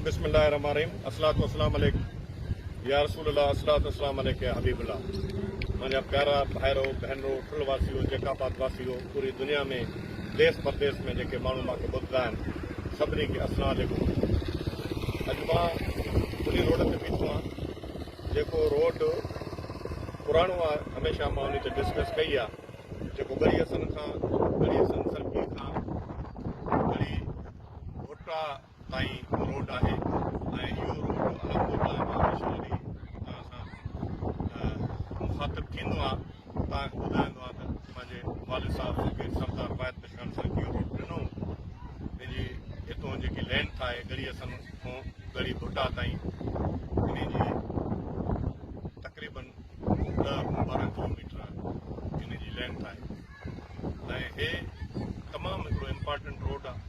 بسم الله الرحمن الرحيم الصلوة والسلام عليڪ يا رسول الله الصلوة والسلام عليڪ يا حبيب الله منهنجا پيارا ڀائرو ڀينرو ٺل واسيو جيڪ آباد واسيو پوري دنيا ۾ ديس پرديس ۾ جيڪي ماڻهو مان کي ٻڌندا آهن سڀني کي السلام عليڪم اڄ مان انهي روڊ تي بيٺو آهيان جيڪو روڊ پراڻو آهي هميشه مان انهي تي ڊسڪس ڪئي آهي جيڪو ٻري حسن کان ٻري حسن سرڪي کان ٻري ڀٽا تائين روڊ آهي ۽ اهو روڊ علمپور لاء به هميشه جڏهن توهان سان مخاطب ٿيندو آهيان ته توهان کي ٻڌائيندو آهيان ته پنهنجي والد صاحب مونکي سردار بايت پشڪڻ سان اهو روڊ ڏنو هو ان جي اتو جيڪي لينٿ آهي ڳڙهي اسن کان ڳڙهي ڀٽا تائين ان جي تقريبن ڏهه کان ٻارهن ڪلوميٽر ان جي لينٿ آهي ۽ هي تمام هڪڙو امپارٽنٽ روڊ آهي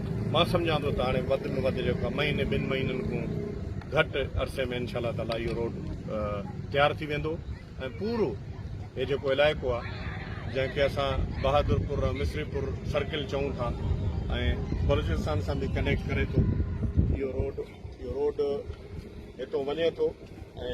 مان سمجهان ٿو ته هاڻي وڌ ۾ وڌ جيڪو مهيني ٻن مهينن کان گهٽ عرصي ۾ انشاء الله تعالي اهو روڊ تيار ٿي ويندو ۽ پورو هي جيڪو علائقو آهي جنهن کي اسان بهادر پور مصري پور سرڪل چئون ٿا ۽ بلوچستان سان به ڪنيڪٽ ڪري ٿو اهو روڊ اهو روڊ هتو وڃي ٿو ۽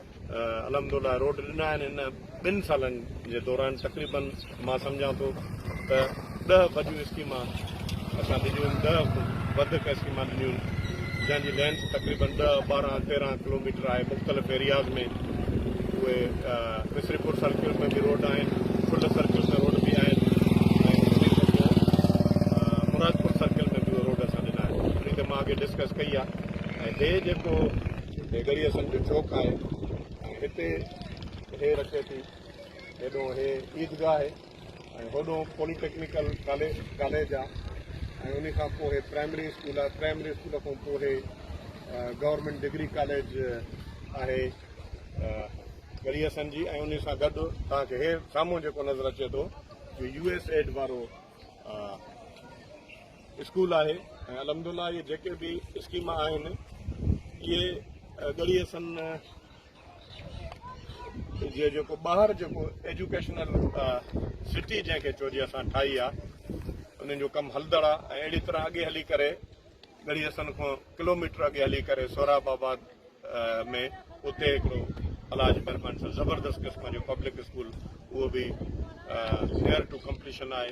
الحمدالله روڊ ڏنا آهن ان ٻن سالن جي دوران تقريبا مان سمجهان ٿو ته ڏهه وڏيون اسڪيمان اسان ڏنيون آهن ڏهه وڌيڪ اسڪيمان ڏنيون آهن جنهن جي لينٿ تقريبا ڏهه ٻارهن تيرهن ڪلوميٽر آهي مختلف ايرياز ۾ اهي مصري پور سرڪل ۾ به روڊ آهن ڦل سرڪل ۾ روڊ به آهن مرادپور سرڪل ۾ به روڊ اسان ڏنا آهن ڏسڪس ڪئي آهي هي گلي اسن جو چوڪ آهي ۽ هتي هي رکي ٿي هيڏو هي عيدگاهه آهي ۽ هوڏو پولي ٽيڪنيڪل ڪاليج آهي ۽ ان کان پوء هي پرائمري اسڪول آهي پرائمري اسڪول کان پوء هي گورنمنٽ ڊگري ڪاليج آهي گلي اسن جي ۽ ان سان گڏ توهان کي هي سامهون جيڪو نظر اچي ٿو يو ايس ايڊ وارو اسڪول آهي ۽ الحمدلله اهي جيڪي به اسڪيم آهن اهي ڳڙهي سن جي جيڪو ٻاهر جيڪو ايجوڪيشنل سٽي جنهن کي چئجي اسان ٺاهي آهي انهن جو ڪم هلندڙ آهي ۽ اهڙي طرح اڳي هلي ڪري ڳڙهي سن کان ڪلوميٽر اڳي هلي ڪري سهراب آباد ۾ اتي هڪڙو علاج مهرباني سان زبردست قسم جو پبلڪ اسڪول اهو به نيئر ٽو ڪمپليشن آهي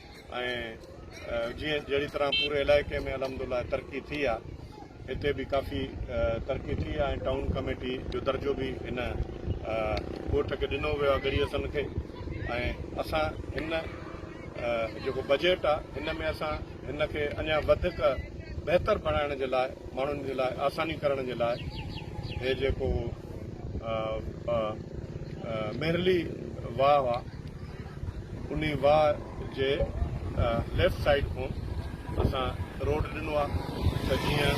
۽ جيئن جهڙي طرح پوري علائقي ۾ الحمدلله ترقي ٿي آ هتي به ڪافي ترقي ٿي آ ۽ ٽائون ڪميٽي جو درجو به هن ڳوٺ کي ڏنو ويو آ ڳڙهي حسن کي ۽ اسان هن جيڪو بجيٽ آ هن ۾ اسان هن کي اڃا وڌيڪ بهتر بڻائڻ جي لاء ماڻهن جي لاء آساني ڪرڻ جي لاء هي جيڪو مهرلي واهه آ انهي واهه جي ليفٽ سائيڊ کان اسان روڊ ڏنو آ ته جيئن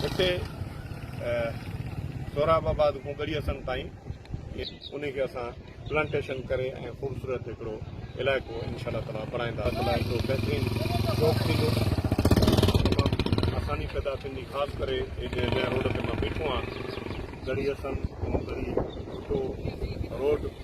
هتي سهراب آباد کان ڳڙهي حسن تائين انهي کي اسان پلانٽيشن ڪري ۽ خوبصورت هڪڙو علائقو انشاء الله تعالي بڻائيندا ته هڪڙو بهترين شوق ٿيندو تمام آساني پيدا ٿيندي خاص ڪري هي جنهن روڊ تي مان بيٺو آهيان ڳڙهي حسن ڳڙهي ٺٽو روڊ